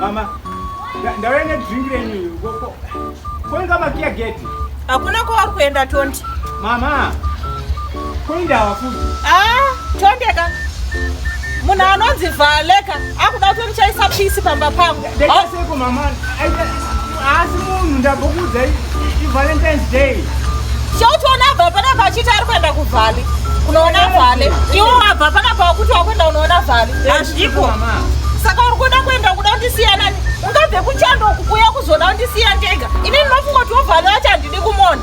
Mama, ndauya nedrink renyu koko. Koinga makiya gate. Hakuna kwauri kuenda Tonde. Mama, koinda hawafuti. Ah, Tonde ka. Munhu anonzi Valeka akuda kuti ndichaisa pisi pamba pangu. Ndakaseko mama asi munhu ndambokuudza ivalentines day chauchiona abva panapa achiti ari kuenda kuvhale unoona vhale iwo wabva panapa wakuti wakuenda unoona vhale hazviko saka uri kuda kuenda kuda kundisiyana ungabve kuchando kukuya kuzoda kundisiya ndega ini ndinofunga kuti wovhale wacho handidi kumona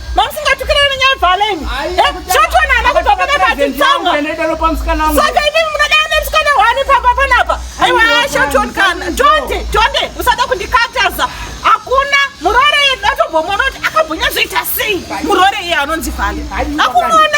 Mamusingatukirane nenyaya dzaleni. Zvotona ana kuti vapana pati tsanga. Saka imi munoda ane musikana wani pamba panapa. Aiwa asha John kana. Jonde, Jonde, usada kundikataza. Hakuna murore yedu atobomona kuti akabhonya zvoita sei. Murore iye anonzi Vale. Hakumona.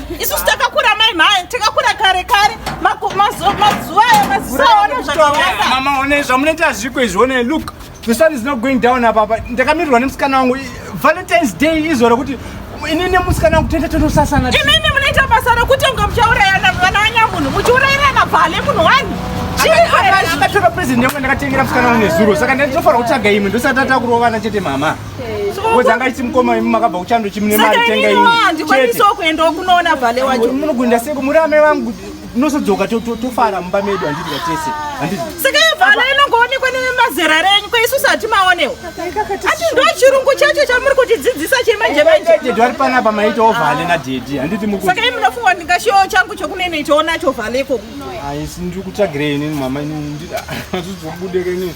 isusu takakura mai mhai takakura kare kare mazuva aya mazisaona zvakawanda mama one zvamunoita hazviko izvi one look the sun is not going down apapa ndakamirirwa nemusikana wangu valentines day izuva rekuti ini nemusikana wangu tete tonosasana imimi munoita basa rekuti unga muchaurayana vana vanyamunhu muchiurayirana bvale munhu wani akatora present yangu ndakatengera musikana wangu nezuro saka ndinofanira kutsvaga imwe ndosati atakurovana chete mama wezanga chimukoma imi makabva kuchando chimune mari tenga imi ndikwanisawo kuendawo kunoona vhale wacho munogunda seko muri amai vangu tinosodzoka tofara mumba medu handiti katese handiti saka yevhana inongoonekwa nemazera renyu kwaisusu hatimaonewo ati ndo chirungu chacho chamuri kutidzidzisa chemanjemanjedhedhi vari panapa maitawo vhale nadhedhi handiti muku saka i munofunga ndingashiwo changu chokunenoitawo nacho vhale ikoko aisi ndiri kutsvagirei inini mama inini ndiri atizobudeke inini